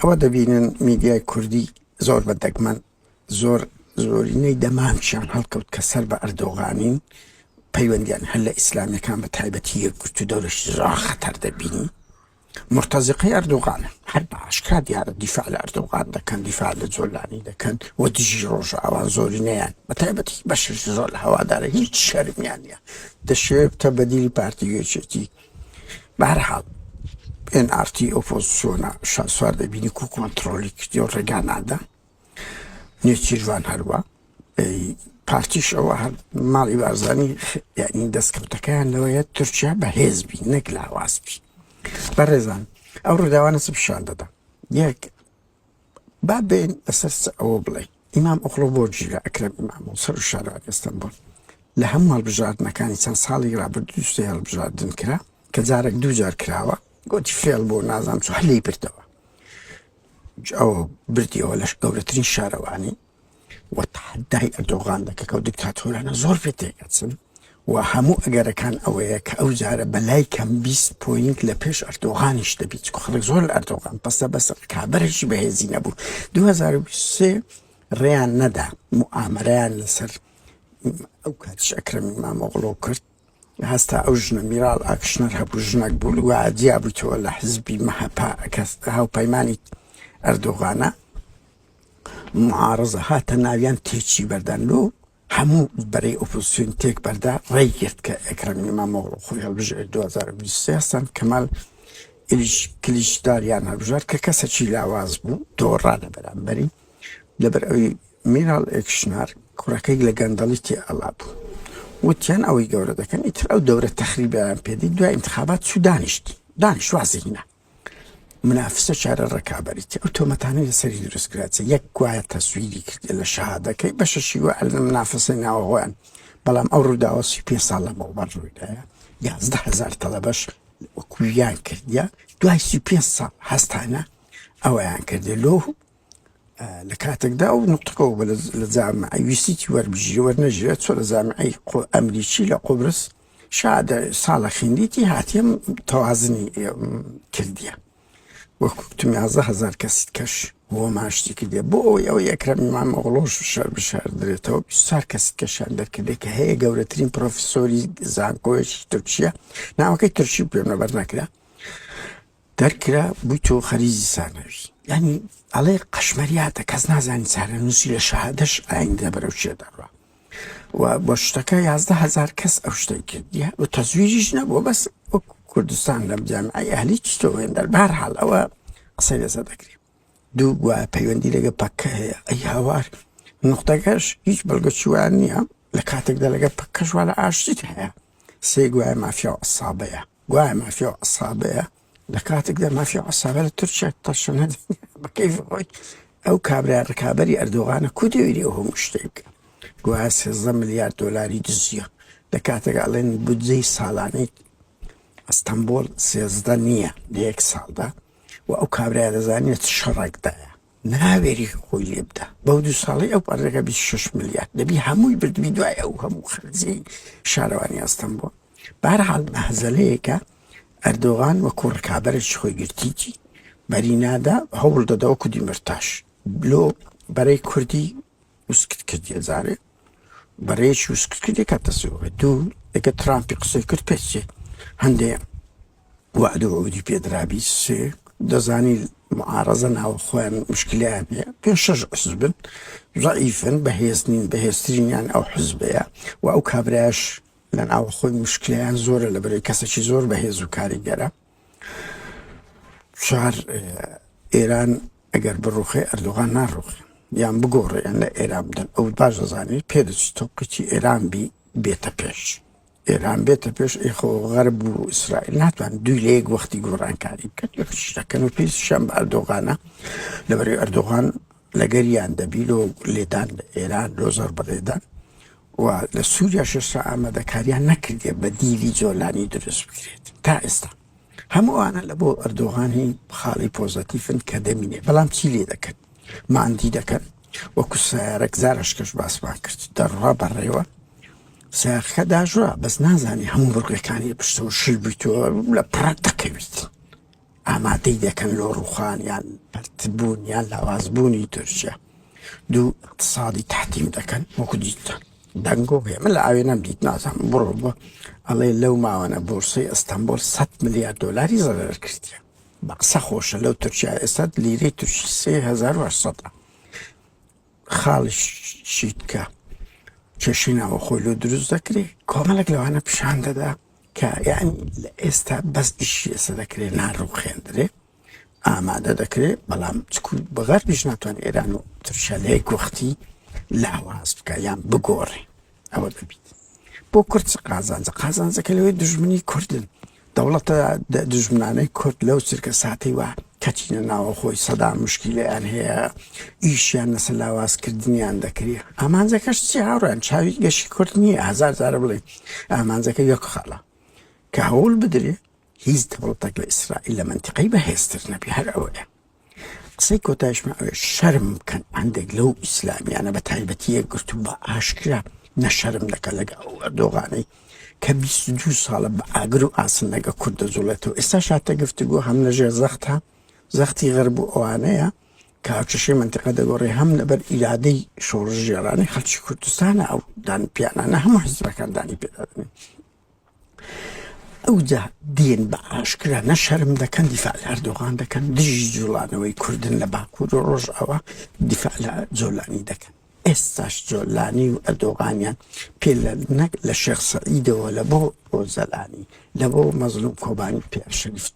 ئەوە دەبینن میدیای کوردی زۆر بە دەگمەن زۆر زۆرینەی دەمانچیان هەڵکەوت کە سەر بە ئەردۆغانین پەیوەندیان هەر لە ئیسلامیەکان بە تایبەتی یەکگرت و دەورش زۆر خەتەر دەبینی مرتەزیقی ئەردۆغانە هەر بە ئاشکرا دیارە دیفاع لە ئەردۆغان دەکەن دیفاع لە جۆلانی دەکەن و دژی ڕۆژ ئاوان زۆرینەیان بە تایبەتی بەشش زۆر لە هەوادارە هیچ شەرمیانە دەشێت بتە بەدیلی پارتی گوێچێتی بەهەرحاڵ ئێن ئاڕ تی ئۆپۆزسیۆنە شاسوار دەبینی کو کۆنتڕۆڵی کردی و ڕێگا نادا نێچیرڤان هەروا پارتیش ئەوە هەر ماڵی بارزانی یعنی دەستکەوتەکەیان لەوەیە تورکیا بەهێز بی نەک لاواز بی بەڕێزان ئەو ڕووداوانە چ پیشان دەدا یەک با بێین لەسەر چ ئەوە بڵێین ئیمام ئۆغڵۆ بۆ گیرا ئەکرەم ئیمام و سەر و شارەوانی ئەستەنبوڵ لە هەموو هەڵبژاردنەکانی چەند ساڵی رابردوو دوو سێ هەڵبژاردن کرا کە جارێک دوو جار کراوە گۆتی فێڵ بوو نازانم چۆن لێی بردەوە ئەو بردیەوە لەش گەورەترین شارەوانی و تەحەدای ئەردۆغان دەکەن کە ئەو دیکتاتۆرانە زۆر پێ تێکەچن و هەموو ئەگەرەکان ئەوەیە کە ئەو جارە بە لای کەم بیست پۆینت لە پێش ئەردۆغانیش دەبیت چکۆ خەڵک زۆر لە ئەردۆغان پەسە بەسە ڕکابەرێکی بەهێزی نەبوو 2023 ڕێیان نەدا موئامەرەیان لەسەر ئەو کاتیش ئەکرەمی مامۆغڵۆ کرد هەستا ئەو ژنە میرال ئاکشنەر هەبوو ژنەک بوو و جیا بوویتەوە لە حزبی مەهەپە کە هاوپەیمانی ئەردۆغانە معارزە هاتە ناویان تێچی بەردان لۆ هەموو بەرەی ئۆپۆزیسیۆن تێک بەردا ڕێی گرت کە ئەکرەم ئیمامۆغڵو خۆی هەڵبژێر 2023 سان کەمال ئیلیش کلیچداریان هەڵبژارد کە کەسێکی لاواز بوو دۆڕا لە بەرامبەری لەبەر ئەوی میراڵ ئێکشنار کوڕەکەی لە گەندەڵی تێ ئەڵا بوو وتیان ئەوەی گەورە دەکەن ئیتر ئەو دەورە تەخریبیان پێ دی دوای ئینتخابات چوو دانیشت دانیشت وازی هینا منافسە چارە ڕکابەریتی ئەو تۆمەتانەی لەسەری دروستکراچێ یەک گوایە تەسویری کردێ لە شەهادەکەی بەشەشی وە ئەلە منافسە ناوە هۆیان بەڵام ئەو ڕووداوە سی پێ ساڵ لە مەوبەر ڕوویدایە یازدە هزار تەڵەبەش وەکویان کردە دوای سی پێ ساڵ هەستانە ئەویان کردێ لۆ لە کاتێکدا ئەو نوتقە و لە جامعەی ویستیی وەربژی وەرنەژێت چۆ لە جامعەی ئەمریکی لە قوبرس شاد ساڵە خیندیتی هاتیم تەوازنی کردیە وەکوتم یازە هزار کەسیت کەش بۆ ماشتی کردێ بۆ ئەوی ئەو یەکرم مام ئۆڵۆش شەر بشار درێتەوە سار کەسی کەشان دەرکردێ کە هەیە گەورەترین پرۆفیسۆری زانکۆیەکی تورکیا ناوەکەی ترشی پێنەبەر نەکرا دەرکرا بویتەوە خەریجی سانەوی یانی ئەڵێ قەشمەریاتە کەس نازانی چارە نووسی لە شەهادەش ئایندە بەرەو چێ دەڕوا و بۆ شتەکە یازدە هزار کەس ئەو شتەی کردیە و تەزویریش نەبووە بەس وەک کوردستان لەم جامعی ئەهلی چتەوەێن دەربار حاڵ ئەوە قسەی لەسەر دەکرێت دوو گووە پەیوەندی لەگە پەکە هەیە ئەی هاوار نقطەکەش هیچ بەڵگە چوان نییە لە کاتێکدا لەگە پەکەشوە لە ئاشتیت هەیە سێ گوایە مافیا و ئەسابەیە گوایە مافیا و عەسابەیە لە کاتێکدا مافیا و عەسابە لە تورکیا تەشەنە دەنێ بە کەیفی خۆی ئەو کابرا ڕکابەری ئەردۆغانە کو دەوێری ئەو هەموو شتەی بکە گوایە سێزدە ملیار دۆلاری دزیە لە کاتێک ئەڵێن بودجەی ساڵانەی ئەستەنبوڵ سێزدە نییە لە یەک ساڵدا و ئەو کابرایە دەزانێت چ شەڕێکدایە ناوێری خۆی لێ بدا بەو دوو ساڵی ئەو پارەکە 26 ملیار دەبی هەمووی بردبی دوای ئەو هەموو خەرجی شارەوانی ئەستەم بووە بارحاڵ مەهزەلەیەکە ئەردۆغان وەکو ڕکابەرش خۆی گرتیی بەرینادا هەوڵ دەدەوە کودی مرتاش لۆ بەرەی کوردی وسکت کرد یە زارێ بەڕێکی وسکت کرد یەکە تەسەوڕێ دوو یەکە ترامپی قسەی کرد پێچێ هەندێ وعد و عودی پێدرابی سێ دەزانی معارەزە ناوە خۆیان مشکلیان هەیە پێ شەش حزبن ضعیفن بەهێزنین بەهێزترینیان ئەو حزبەیە و ئەو کابراش لە ناوە خۆی مشکلیان زۆرە لە بەرەی کەسێکی زۆر بەهێز و کاریگەرە چوار ئێران ئەگەر بڕوخێ ئەردوغان ناڕوخێ یان بگۆڕێ یان لە ئێران بدەن ئەو باش دەزانێ پێ دەچی تۆقیی ئێران بی بێتە پێش ئێران بێتە پێش ئێخۆ غەرب و ئیسرائیل ناتوان دوی لە یەک وەختی گۆڕانکاری بکەن یەخشتەکەن و پێی شەم بە ئەردۆغانە لەبەرەی ئەردۆغان لەگەریان دەبی لۆ لێدان ئێران لۆ زەربەلێدان و لە سوریاش ئێستا ئامادەکاریان نەکردیە بەدیلی جۆلانی دروست بکرێت تا ئێستا هەموو ئەوانە لە بۆ ئەردۆغان هی خاڵی پۆزەتیفن کە دەمینێ بەڵام چی لێ دەکەن ماندی دەکەن وەکو سیارەک زارەشکەش باسمان کرد دەڕوا بەڕێوە ساخە داژوا بەس نازانانی هەموو بڕگەکانی پشتەوە شل بیتەوە لە پڕات دەکەویت ئامادەی دەکەن لۆ ڕووخان یان پەرتبوون یان لاوازبوونی تورکیا دوو ئیقتسادی تەحتیم دەکەن وەکو دیتتان دەنگۆ هەیە من لە ئاوێ نەم دیت نازانم بڕۆ بۆ ئەڵێ لەو ماوانە بۆرسەی ئەستەمبۆل 100 ملیار دۆلاری زەرەر کردیە بە قسە خۆشە لەو تورکیا ئێستا لیرەی تورکی 3800 خاڵیشیت کە کێشەی ناوەخۆی لۆ دروست دەکرێ کۆمەلێک لەوانە پیشان دەدا کە یعنی لە ئێستا بەس ئیشی ئێستا دەکرێ ناڕوخێندرێ ئامادە دەکرێ بەڵام چکو بەغەربیش ناتوان ئێران و ترشەلەیەک وەختی لاواز بکە یان بگۆڕێ ئەوە دەبیت بۆ کورد چ قازانجە قازانجەکە لەوەی دژمنی کوردن دەوڵەتە دژمنانەی کورد لەو چرکە ساتەی وە کەچینە ناوە خۆی سەدا مشکیلیان هەیە ئیشیان لەسەر لاوازکردنیان دەکری ئامانجەکەش چی هاوڕێن چاوی گەشی کورد نییە هزار جارە بڵێ ئامانجەکە یەک خاڵە کە هەوڵ بدرێ هیچ دەوڵەتێک لە ئیسرائیل لە منتیقەی بەهێزتر نەبی هەر ئەوەیە قسەی کۆتایشمە ئەوێ شەرم بکەن هەندێک لەو ئیسلامیانە بە تایبەتی یەکگرتوو بە ئاشکرا نەشەرم دەکە لەگە ئەو ئەردۆغانەی کە دو ساڵە بە ئاگر و ئاسن لەگە کورد دەجوڵێتەوە ئێستا شاتە گفتگو هەم لەژێر زەختە زەختی غەرب و ئەوانەیە کە هاوچەشی منتیقە دەگۆڕێ هەم لەبەر ئیرادەی شۆڕژێرانی خەلکی کوردستانە ئەو دان پیانانە هەموو حزبەکان دانی پێدادن ئەوجا دێن بە ئاشکرا نە شەرم دەکەن دیفاع لە ئەردۆغان دەکەن دژی جوڵانەوەی کوردن لە باکور و ڕۆژئاوا دیفاع لە جۆلانی دەکەن ئێستاش جۆلانی و ئەردۆغانیان پێ لە نەک لە شێخ سەعیدەوە لە بۆ ئۆزەلانی لە بۆ مەزلوم کۆبانی پێ شەریفت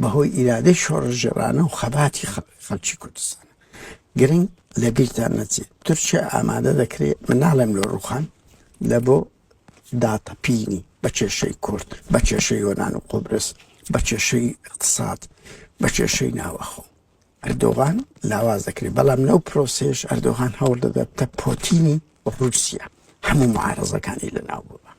بەهۆی ئیرادەی شۆڕشگێڕانە و خەباتی خەڵکی کوردستانە. گرنگ لە بیرتان نەچێت تورکیا ئامادە دەکرێت، من ناڵێم لۆ ڕووخان، لە بۆ داتەپینی بە کێشەی کورد، بە کێشەی یۆنان و قوبرس، بە کێشەی ئیقتساد، بە کێشەی ناوەخۆ. ئەردۆغان لاواز دەکرێت، بەڵام لەو پرۆسەیەش ئەردۆغان هەوڵ دەدات تە پۆتینی ڕووسیا هەموو معارەزەکانی لەناو ببات.